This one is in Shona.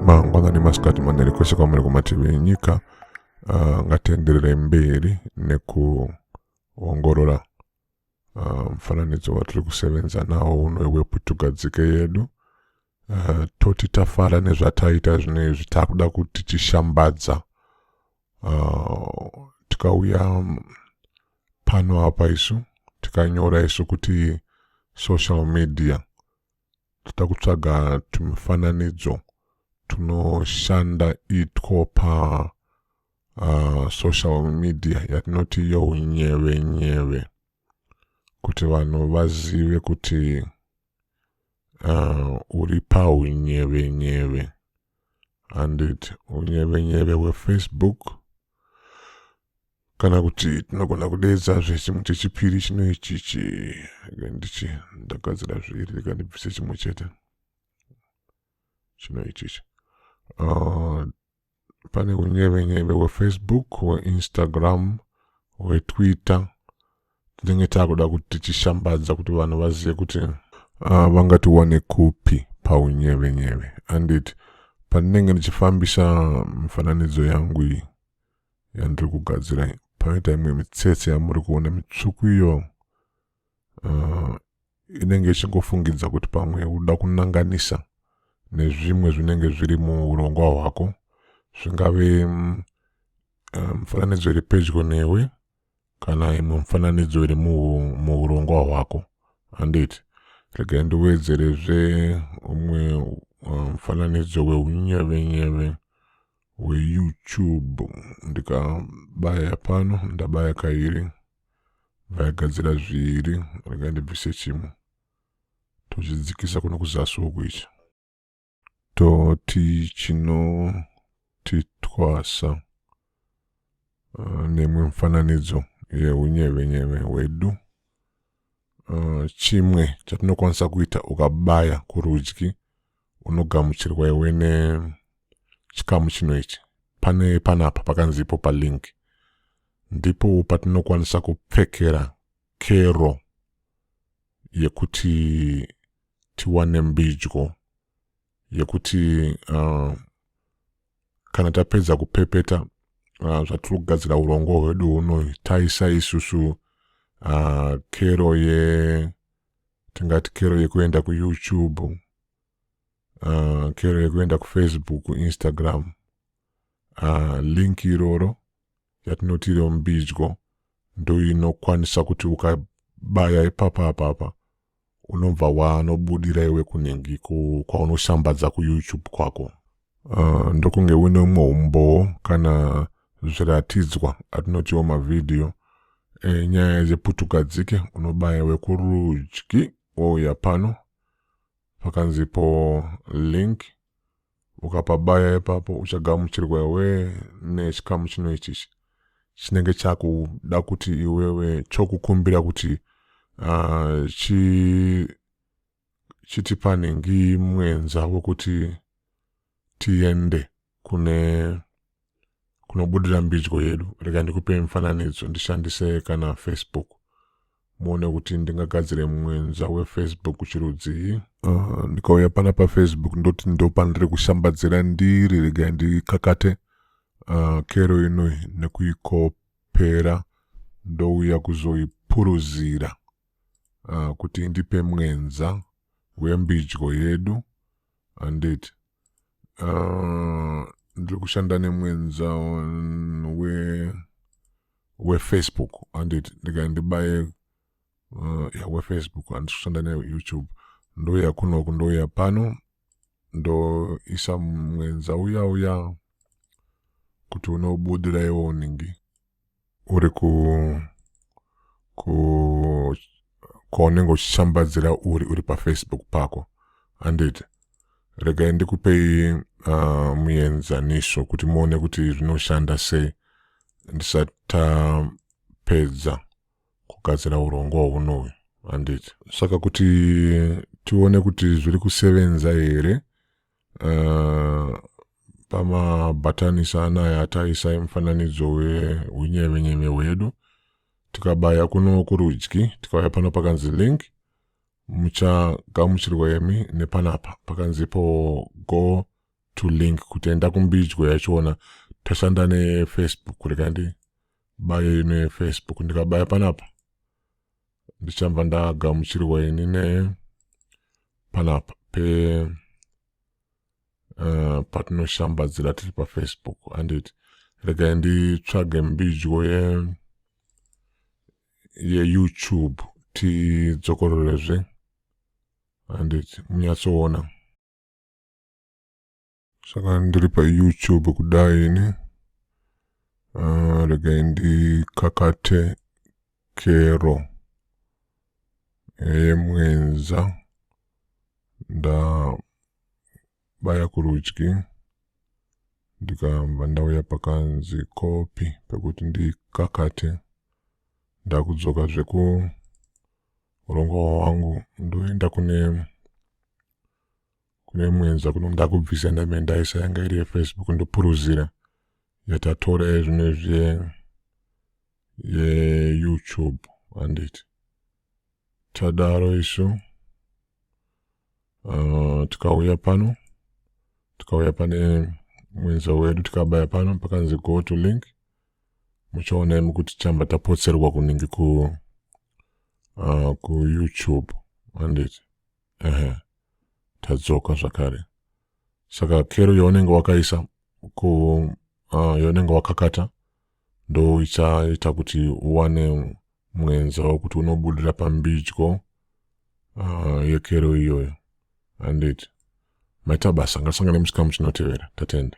mangwanani masikati manheri kwese kwamuri kumativi enyika uh, ngatienderere mberi nekuongorora uh, mufananidzo uh, watiri kusevenza nawo uno weputugadzike yedu uh, toti tafara nezvataita zvino izvi takuda kuti tishambadza uh, tikauya pano apa isu tikanyora isu kuti social media toda kutsvaga tumifananidzo tunoshanda itwo pa uh, social media yatinoti younyeve nyeve kuti vanhu vazive kuti uh, uri paunyeve nyeve handiti unyevenyeve hwefacebook kana kuti tinogona kudeedza zvechimwe chechipiri chino ichichi ndichi ndagadzira zviri rega ndibvise chimwe chete chino ichichi uh, pane unyevenyeve hwefacebook hweinstagram hwetwitter tinenge takuda kuti tichishambadza kuti vanhu vazive kuti uh, vangatiwane kupi paunyevenyeve andit pandinenge ndichifambisa mifananidzo yangu iyi yandiri kugadzira panoita imwe mitsetse yamuri kuona mitsvuku iyo uh, inenge ichingofungidza kuti pamwe uda kunanganisa nezvimwe zvinenge zviri muurongwa hwako zvingave mm, uh, mufananidzo iri pedyo newe kana imwe mufananidzo iri muurongwa hwako handiti regai ndiwedzerezve umwe uh, mufananidzo weunyevenyeve weyoutube ndikabaya pano ndabaya kairi vaigadzira zviiri regai ndibvise chimwe tochidzikisa kuno kuzasi uku ichi Toti chinotitwasa uh, nemwe mufananidzo yeunyevenyeve hwedu uh, chimwe chatinokwanisa kuita ukabaya kurudyi unogamuchirwa iwe nechikamu chino ichi pane panapa pakanzi ipo palink ndipo patinokwanisa kupfekera kero yekuti tiwane mbidyo yekuti uh, kana tapedza kupepeta uh, zvatiri kugadzira urongwa hwedu huno taisa isusu uh, kero ye tingati kero yekuenda kuyoutube uh, kero yekuenda kufacebook instagram uh, link iroro yatinoti iro mbidyo ndoinokwanisa kuti ukabaya ipapa apapa unobva wanobudira iwe kunhingi kwaunoshambadza kuyoutube kwako uh, ndokunge uine umwe umbowo kana zviratidzwa atinotiwo mavhidhiyo enyaya eh, dzeputugadzike unobaya wekurudyi wouya pano pakanzipo link ukapabaya ipapo uchagamuchirwa iwe nechikamu chino ichichi chinenge chakuda kuti iwewe chokukumbira kuti uh, chi chiti panhingi mwenza wekuti tiende kune kunobudira mbidyo yedu rega ndikupe mifananidzo ndishandise kana facebook muone kuti ndingagadzire mwenza wefacebook chirudzii uh, ndikauya pana pafacebook ndoti ndopandiri kushambadzira ndiri rega ndikakate uh, kero inoi nekuikopera ndouya kuzoipuruzira uh, kuti indipe mwenza wembidyo yedu handiti uh, ndiri kushanda nemwenza we wefacebook handiti ndikandibaye uh, ya wefacebook handisi kushanda neyoutube ndouya kunoku ndouya pano ndoisa mwenza uya uya kuti unobudira iwo uningi uri ku ku kwaunenge uchishambadzira uri uri pafacebook pako handiti regai ndikupei uh, muenzaniso kuti muone kuti zvinoshanda sei ndisatapedza kugadzira urongwa hunoyu handiti saka kuti tione kuti zviri kusevenza here uh, pamabhatanisa anaya ataisai mufananidzo weunyevenyeve hwedu tikabaya kuno kurudyi tikauya pano pakanzi link muchagamuchirwa yemi nepanapa pakanzipo go to link kuti enda kumbidyo yachiona tashanda nefacebook rikandi bayo ino yefacebook ndikabaya panapa ndichanva ndagamuchirwa ini ne panapa pe uh, patinoshambadzira tiri pafacebook anditi regai nditsvage mbidyo ye yeyoutube tidzokororezve anditi munyatsoona saka ndiri payoutube kudai ini uh, regai ndikakate kero yemwenza ndabaya kurudyi ndikabva ndauya pakanzi kopi pekuti ndikakate ndakudzoka zveku urongwa hwangu ndoenda kune kune mwenza kuno ndakubvisa ndame ndaisa yanga iri yefacebook ndopuruzira yatatora ezvino zve yeyoutube handiti tadaro isu uh, tikauya pano tikauya pane mwenza wedu tikabaya pano pakanzi go to link muchaona imi kuti chamba tapotserwa kunenge ku uh, kuyoutube handiti ehe tadzoka zvakare saka kero yaunenge wakaisa ku uh, yaunenge wakakata ndo ichaita kuti uwane mwenza wekuti unobudira pambidyo uh, yekero iyoyo handiti maita basa ngasangane muchikamu chinotevera tatenda